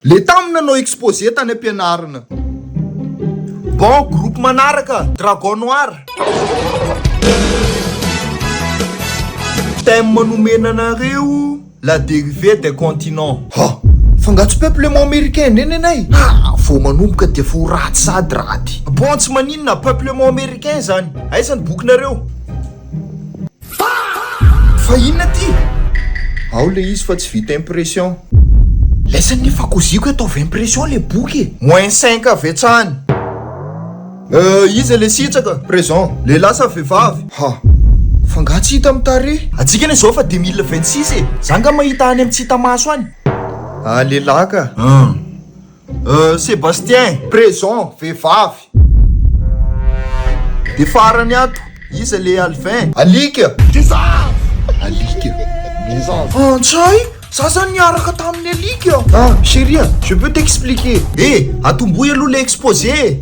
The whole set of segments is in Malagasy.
Le tam nanao exposé tany ampianarina. Bon groupe manaraka dragon noir. Thème nomena anareo la dérivée des continents. Ha! Fa nga tsy peuple maomericain ne nenay? Ha! Vao manomboka dia efa ho ratsy sady raty. Bon tsy maninona, peuplement americain zany. Aiza ny bokinareo? Fa inona ty? Ao le izy fa tsy vita impression. Laisan ny efa koziko ataovy impression le boky e! Moins cinq avetsany. Euh iza le sitraka? Présent. Lehilahy sa vehivavy? Ha! Fa nga tsy hita am tarehy? Antsika anie zao fa deux mille vingt six e! Za nga mahita any am tsy hita maso any. Ah lehilahy ka! Hum. Euh Sebastien présent vehivavy de farany ato iza le alvin? Alika! Vehivavy! Alika! Vehivavy! Frantsay! Za zany niaraka tamin'ny alika! Ah chérie a! Je peux t'expliquer! Eh! Atombohy aloha le exposé e!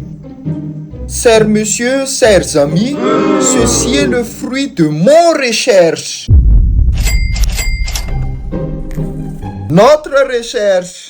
Chers messieurs, chers amis, ceci est le fruit de mon recherche! Notre recherche!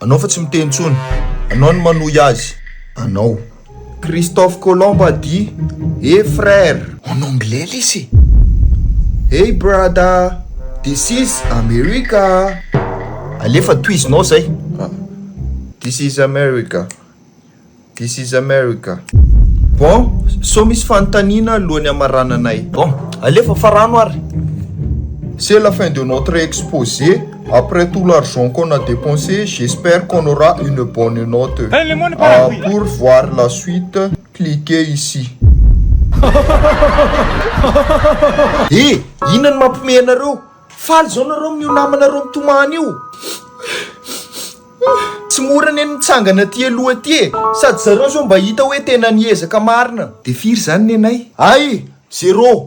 Anao fa tsy miteny intsony. Anao no manohy azy. Anao. Christophe Colomb a dit, Hey frère! En anglais lesy e! Hey brada! This is America! Alefa tohizinao zay! This is America! This is America. Bon, sao misy fanontaniana alohan'ny hamarananay? Bon, alefa fa rano ary! C'est la fin de notre exposé, après tout l'argent qu'on a dépensé, j'espère qu'on aura une bonne note. Pour voir la suite, cliquez ici. He! Inona no mampihomehy anareo? Faly izao nareo amin'io namanareo mitomany io? Hum, tsy mora anie ny mitsangana aty aloha aty e! Sady zareo zao mba hita hoe tena niezaka marina. De firy zany nenay? Ay! Zero!